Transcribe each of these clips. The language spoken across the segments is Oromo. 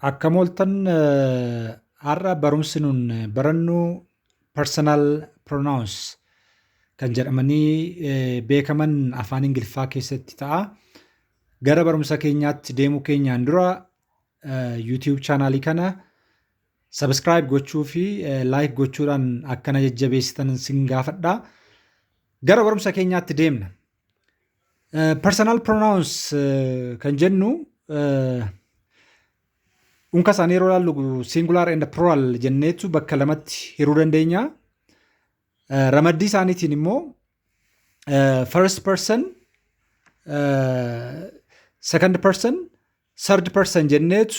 Akkam ooltan har'a barumsi nun barannu personal pronouns kan jedhamanii beekaman afaan Ingiliffaa keessatti ta'a. Gara barumsa keenyaatti deemuu keenyaan dura YouTube chaanaalii kana subscribe gochuu fi like gochuudhaan akkana jajjabeessitan sin gaafadha. Gara barumsa keenyaatti deemna. Personal pronouns eh, kan jennu eh, unka isaanii yeroo ilaallu singular and plural jenneetu bakka lamatti hiruu dandeenya. Eh, Ramaddii isaaniitiin immoo eh, first person, eh, second person, third person jenneetu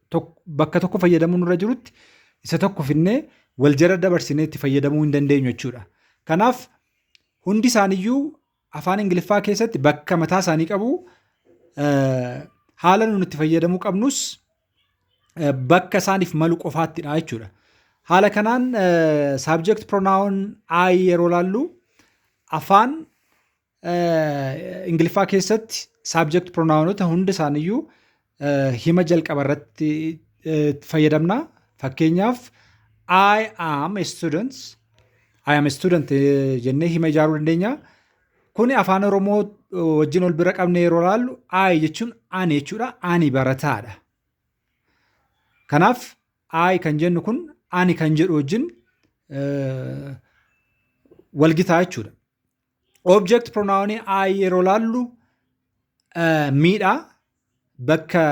bakka tokko fayyadamuu nurra jirutti isa tokko finnee wal jala dabarsinee itti fayyadamuu hin dandeenyu jechuudha. Kanaaf hundi isaaniiyyuu afaan Ingiliffaa keessatti bakka mataa isaanii qabu haala nuti itti fayyadamuu qabnus bakka isaaniif malu qofaattidha jechuudha. Haala kanaan subject pronoun I yeroo laallu afaan Ingiliffaa keessatti saabjekti piroonaawonota hunda isaaniiyyuu hima jalqaba irratti fayyadamna. Fakkeenyaaf I am a student. I am a student jennee hima ijaaruu dandeenya. Kuni afaan Oromoo wajjin ol bira qabnee yeroo ilaallu I jechuun ani jechuudha. Ani barataadha. Kanaaf I kan jennu kun ani kan jedhu wajjin walgitaa jechuudha. Object pronoun I yeroo laallu miidha. Bakka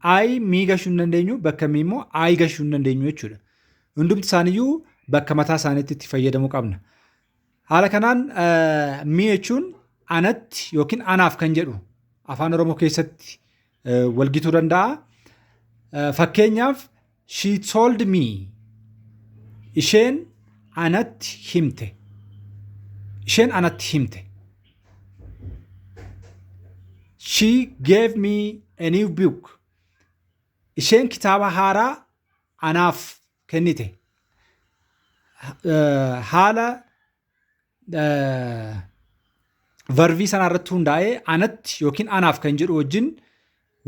I mii gashuu hin dandeenyu bakka mii immoo I gashuu hin dandeenyu jechuudha. Hundumti isaaniyyuu bakka mataa isaaniitti itti fayyadamuu qabna. Haala kanaan mii jechuun anatti yookiin anaaf kan jedhu afaan Oromoo keessatti walgituu danda'a. Fakkeenyaaf she told me isheen anatti himte. Isheen anatti himte. She gave me a new book. Isheen kitaaba haaraa anaaf kennite. Haala varvii sanaa irratti hundaa'ee anatti yookiin anaaf kan jedhu wajjin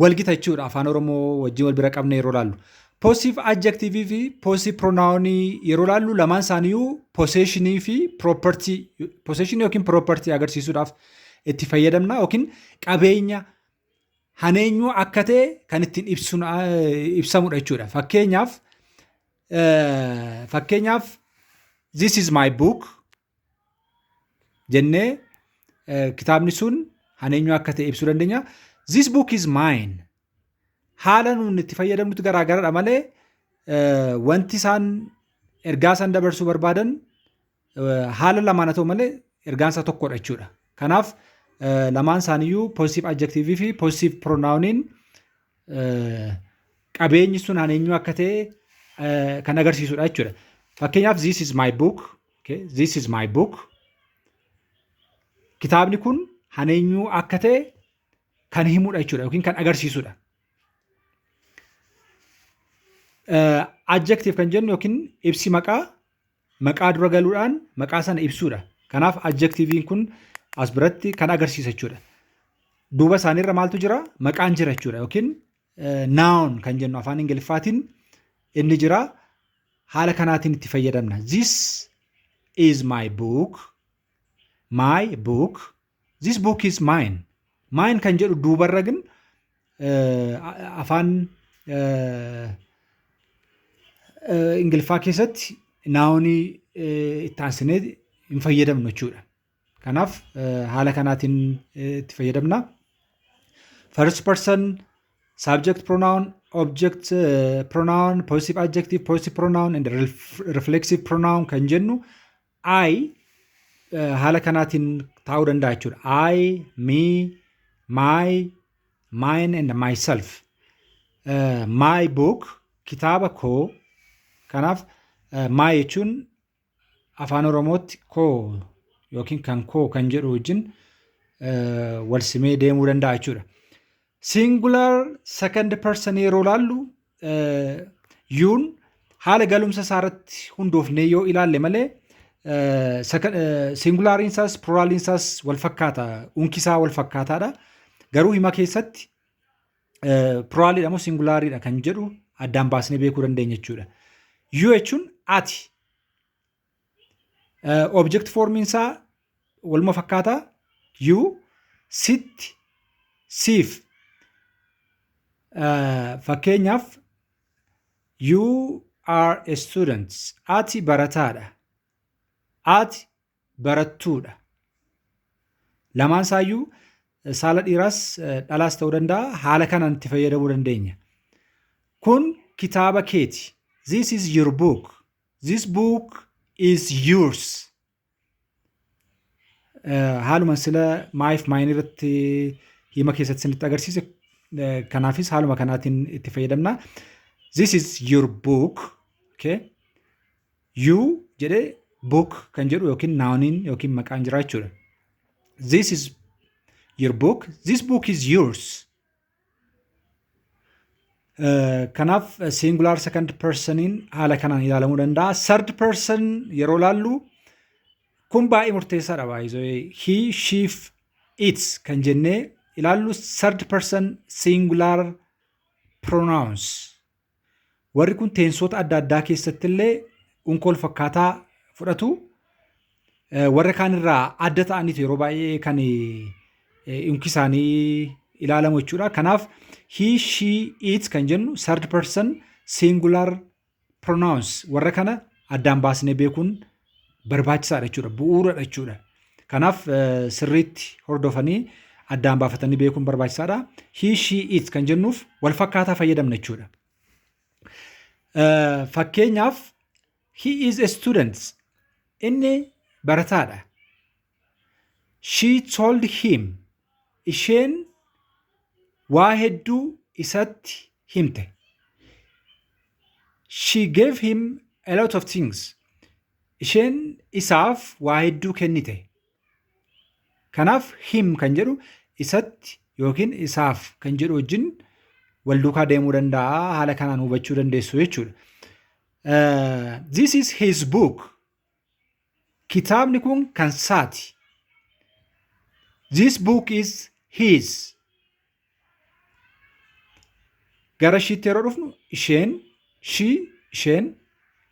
walgita jechuudha afaan oromoo wajjin wal bira qabne yeroo laallu. Poosiif adjektiivii fi poosiif piroonaawonii yeroo laallu lamaan isaaniiyyuu poseeshinii fi piroopartii poseeshinii yookiin piroopartii agarsiisuudhaaf itti fayyadamna yookiin qabeenya haneenyuu akka ta'e kan ittiin ibsamudha jechuudha. Fakkeenyaaf Fakkeenyaaf this is my book jennee kitaabni sun kan eenyu akka ta'e ibsuu dandeenya. This book is mine. Haala nuun itti fayyadamnutti garaagaradha malee wanti isaan ergaa isaan dabarsuu barbaadan Haala lamaan haa ta'u malee ergaan isaa tokkodha jechuudha. Kanaaf lamaan isaaniiyyuu positive adjective fi positive pronouniin qabeenyi sun an eenyu akka ta'e kan agarsiisudha jechuudha. Fakkeenyaaf this is my book, okay? this is my book. Kitaabni kun an eenyu akka ta'e kan himudha jechuudha yookiin kan agarsiisudha. Adjective kan jennu yookiin ibsi maqaa maqaa dura galuudhaan maqaa sana ibsuudha. Kanaaf adjektiiviin kun as biratti kan agarsiisa jechuudha. Duuba isaaniirra maaltu jira? Maqaan jira jechuudha yookiin noun kan jennu afaan Ingiliffaatiin inni jira. Haala kanaatiin itti fayyadamna. This is my book. My book. This book is mine. Mine kan jedhu duubarra gin afaan Ingiliffaa keessatti naawonii itti aansinee hin fayyadamnu jechuudha. Kanaaf haala kanaatiin itti fayyadamna. First person subject pronoun, object pronoun, possessive adjective, possessive pronoun and reflexive pronoun kan jennu I haala kanaatiin taa'uu danda'a jechuudha. I, me, my, mine and myself. Uh, my book kitaaba koo kanaaf uh, my jechuun afaan oromootti koo yookiin kan koo kan jedhu wajjin uh, wal simee deemuu danda'a jechuudha. Singular second person yeroo laallu yuun haala galumsa isaa irratti hundoofnee yoo ilaalle malee singulaariin isaas piraaliin isaas wal fakkaata unki isaa wal fakkaataadha. Garuu hima keessatti piraaliidha moo singulaariidha kan jedhu addaan baasnee beekuu dandeenya jechuudha. Yoo jechuun ati Object formiin isaa waluma fakkaata. You sit siif fakkeenyaaf you are a student ati barataadha ati barattuudha lamaan isaayyuu saala dhiiraas dhalaas ta'uu danda'a haala kanaan itti fayyadamuu dandeenya kun kitaaba keeti this is your book This book is yours. Eh, Haaluma sila maayiif maayin irratti hima keessatti isinitti agarsiise eh, kanaafis haaluma kanaatiin itti fayyadamna. This is your book. Okay. You jedhee book kan jedhu yookiin naawniin yookiin maqaan jira jechuudha. This is your book. This book is yours. Kanaaf singular second personiin haala kanaan ilaalamuu danda'a. Third person yeroo laallu kun baay'ee murteessaadha baay'ee he sheef its kan jennee ilaallu third person singular pronouns Warri kun teensoota adda addaa keessatti illee unka wal fakkaataa fudhatu. Warra kaan irraa adda ta'aniitu yeroo baay'ee kan unki isaanii ilaalamu jechuudha. Kanaaf he, she, it kan jennu third person singular pronouns warra kana addaan baasnee beekuun barbaachisaadha jechuudha. Bu'uuradha jechuudha. Kanaaf sirriitti hordofanii addaan baafatanii beekuun barbaachisaadha. He, she, it kan jennuuf wal fakkaataa fayyadamna jechuudha. Fakkeenyaaf he is a student inni barataadha. She told him. Isheen waa hedduu isatti himte. She gave him a lot of things. Isheen isaaf waa hedduu kennite. Kanaaf him kan jedhu isatti yookiin isaaf kan jedhu wajjin wal duukaa deemuu danda'a. Haala kanaan hubachuu dandeessu jechuudha. Uh, this is his book. Kitaabni kun kan saati. This book is his. Gara ishiitti yeroo dhufnu isheen, she, isheen,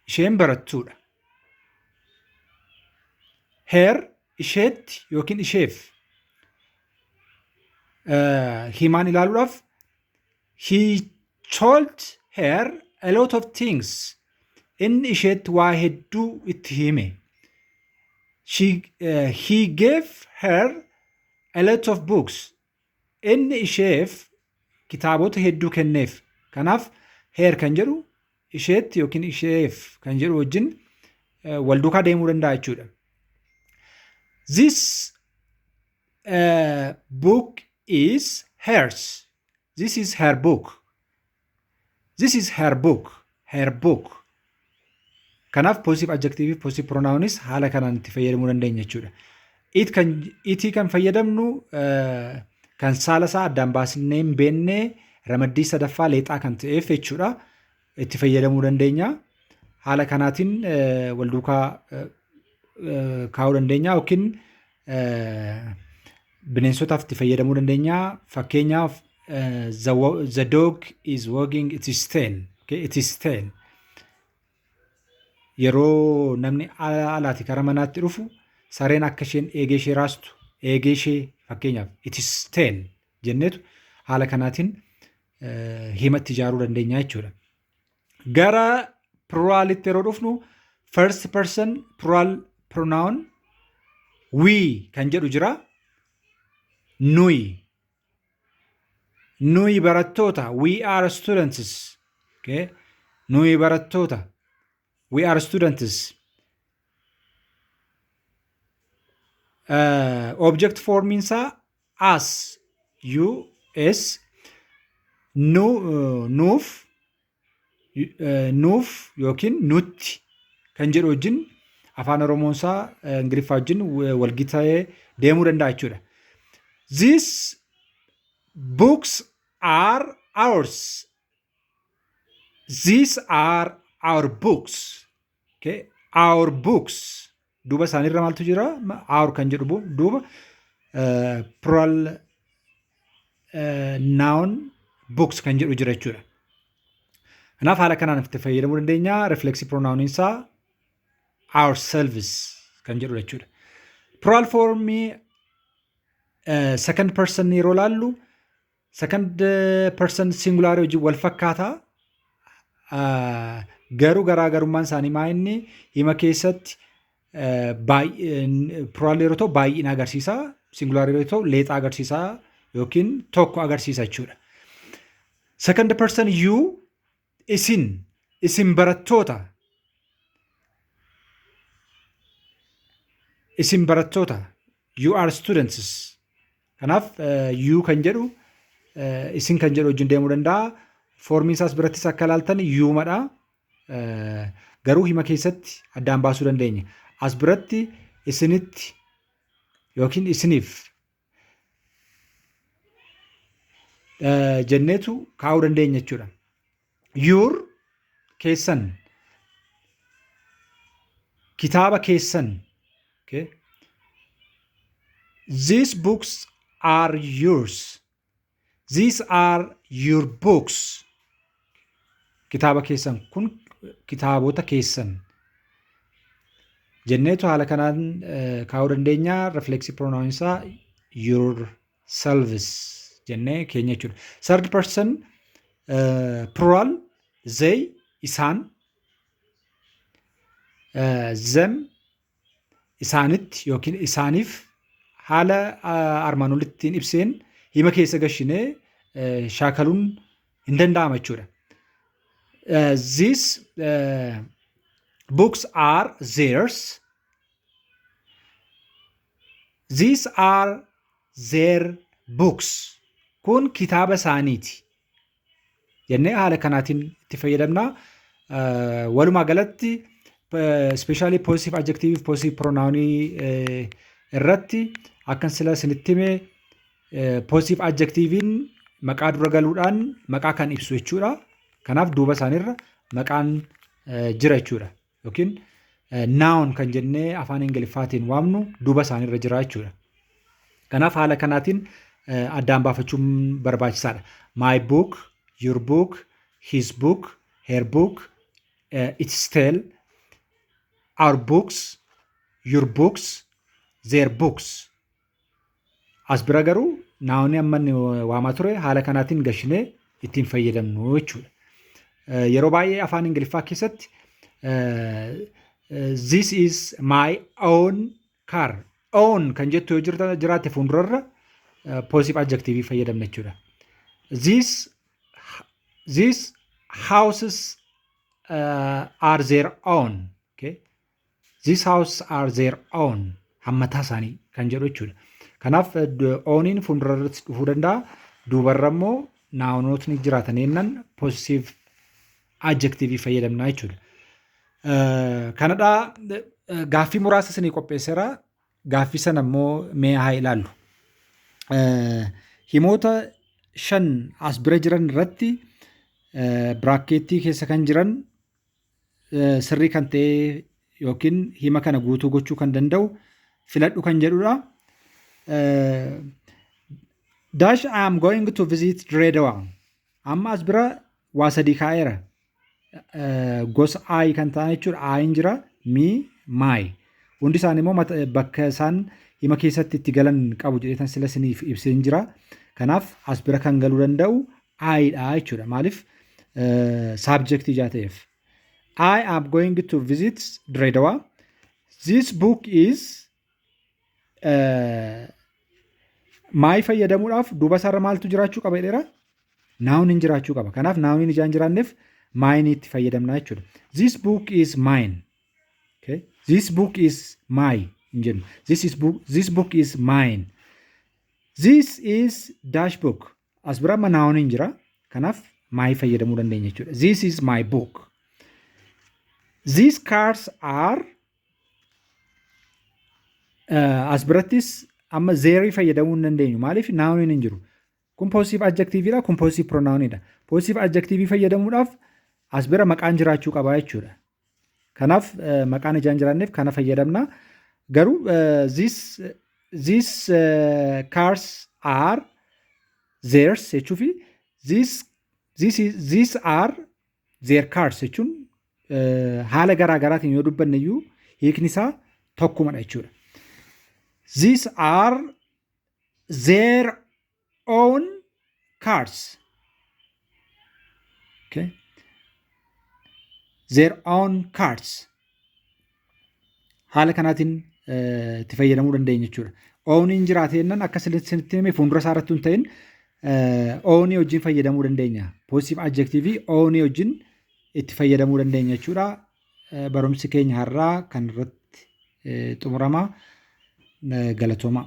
isheen barattuudha. Her isheetti yookiin isheef himaan ilaaluudhaaf He told her a lot of things. Inni isheetti waa hedduu itti hime. She, uh, he gave her a lot of books. Inni isheef kitaabota hedduu kenneef. Kanaaf her kan jedhu isheetti yookiin isheef kan jedhu wajjin uh, wal duukaa deemuu danda'a jechuudha. This uh, book is hers. This is her book. This is her book. Her book. Kanaaf positive adjective fi positive pronouns haala kanaan itti fayyadamuu dandeenya jechuudha. It kan itii kan fayyadamnu eh, kan saala isaa addaan baasnee hin beekne ramaddii sadaffaa leexaa kan ta'eef jechuudha. itti fayyadamuu dandeenya. Haala kanaatiin wal duukaa kaa'uu dandeenya yookiin bineensotaaf itti fayyadamuu dandeenya. Fakkeenyaaf the, the dog is wagging its tail. Okay, its tail. Yeroo namni alaati kara manaatti dhufu sareen akka isheen eegee ishee raastu eegee ishee fakkeenyaaf its tail jenneetu haala kanaatiin himatti ijaaruu dandeenya jechuudha. Gara pluraalitti yeroo dhufnu first person plural pronoun we kan jedhu jira. Nuyi. Nuyi barattoota we are students. Okay. Nuyi barattoota we are students. Uh, object formiin isaa as us nu nuuf nuuf yookiin nutti kan jedhu wajjin afaan oromoonsaa ingiliffaa wajjin walgita'ee deemuu danda'a jechuudha. These books are ours. These are our books. Okay. Our books duuba isaaniirra maaltu jira? Ma- Our kan jedhu bu- duuba eh, plural eh, noun books kan jedhu jira jechuudha. Kanaaf haala kanaan itti fayyadamuu dandeenya. Reflexive pronoun isaa ourselves kan jedhu jechuudha. Plural form eh, second person yeroo laallu Second person singular wajjin wal fakkaata. Garuu garaagarummaan isaanii maa inni hima keessatti piraalee yeroo ta'u baay'ina agarsiisa. Singular yeroo ta'u leexaa agarsiisa yookiin tokko agarsiisa jechuudha. Second person you Isin, isin barattoota, isin barattoota, you are students. Kanaaf you kan jedhu isin kan jedhu wajjin deemuu danda'a. Foormiin isaas birattis akka ilaaltan yuumadha. Garuu hima keessatti addaan baasuu dandeenya. As biratti isinitti yookiin isiniif jenneetu kaa'uu dandeenya jechuudha. Yuur keessan kitaaba keessan okay. These books are yours. These are your books. Kitaaba keessan kun kitaabota keessan. Jenneetu haala kanaan eh, kaa'uu dandeenya. Reflexive pronoun isaa your selves jennee keenya jechuudha. Third person eh, plural they isaan eh, them isaanitti yookiin isaaniif haala armaan olittiin ibseen hima keessa gashinee shaakaluun hin danda'ama jechuudha. These uh, books are theirs. These are their books. Kun kitaaba isaaniiti. jennee haala kanaatiin itti fayyadamna. Walumaa galatti ispeeshaalii poositiif adjektiiviif poositiif piroonaawunii irratti akkan sila isinitti hime poositiif adjektiiviin maqaa dura galuudhaan maqaa kan ibsu jechuudha. Kanaaf duuba isaaniirra maqaan jira jechuudha. yookiin noun kan jennee afaan ingiliffaatiin waamnu duuba isaaniirra jira jechuudha. Kanaaf haala kanaatiin eh, addaan baafachuun barbaachisaadha. My book, your book, his book, her book, eh, its tale, our books, your books, their books. As bira garuu naawni amma inni waamaa ture haala kanaatiin gashinee ittiin fayyadamnu jechuudha. Yeroo baay'ee afaan Ingiliffaa keessatti this is my own car own kan jettu yoo jirta- jiraatte fuuldurarra poosif adjektiivii fayyadamna jechuudha. This these houses uh, are their own. Okay? This house are their own. Hammataa isaanii kan jedhu jechuudha. Kanaaf ooniin fuuldura irratti dhufuu danda'a. Duubarra immoo naawnootni jiraatan jennaan poosisiiv adjektiivii fayyadamnaa jechuudha. Kanadhaa gaaffii muraasa isinii qopheesseera. Gaaffii sana immoo mee haa ilaallu. Himoota shan as bira jiran irratti biraakkeettii keessa kan jiran sirrii kan ta'ee yookiin hima kana guutuu gochuu kan danda'u filadhu kan jedhudha. Dash I am going to visit Direedawa. Amma as bira waa sadii kaa'eera. Gosa I kan ta'an jechuudha. Ayin jira, mi, my. Hundi isaanii immoo bakka isaan hima keessatti itti galan qabu jedheetan sila isiniif ibseen jira. Kanaaf as bira kan galuu danda'u I dha jechuudha. Maaliif saabjektii ijaa ta'eef. I am going to visit Diredawa. This book is uh, maayii fayyadamuudhaaf duuba isaarra maaltu jiraachuu qaba jedheera? Naawuniin jiraachuu qaba. Kanaaf naawuniin ijaan jiraanneef maayinii itti fayyadamnaa jechuudha. This book is mine. Okay. This book is my hin jennu. This, is book, this book is mine. This is dash book. As bira amma naawon hin jira. Kanaaf my fayyadamuu dandeenya jechuudha. This is my book. These cars are uh, as birattis amma zeerii fayyadamuu hin dandeenyu. Maaliif naawoniin hin jiru. Kun poositiiv adjektiiviidha, kun poositiiv piroonaawoniidha. Poositiiv adjektiivii fayyadamuudhaaf as bira maqaan jiraachuu qaba jechuudha. Kanaaf maqaan ijaan jiraanneef kana fayyadamna. Garuu this this cars are theirs jechuu fi this this is this are their cars jechuun haala garaa garaatiin yoo dubbanne iyyuu hiikni isaa tokkumadha jechuudha. These are their own cars okay their own cars haala kanaatiin eh, itti fayyadamuu dandeenya jechuudha. Ooniin jiraate jennaan akka isinitti hime fuuldura isaa irratti hin ta'in eh, oonii wajjin fayyadamuu dandeenya. Positive adjectivii oonii wajjin itti fayyadamuu dandeenya jechuudha. barumsi keenya har'aa kan irratti xumurama galatoomaa.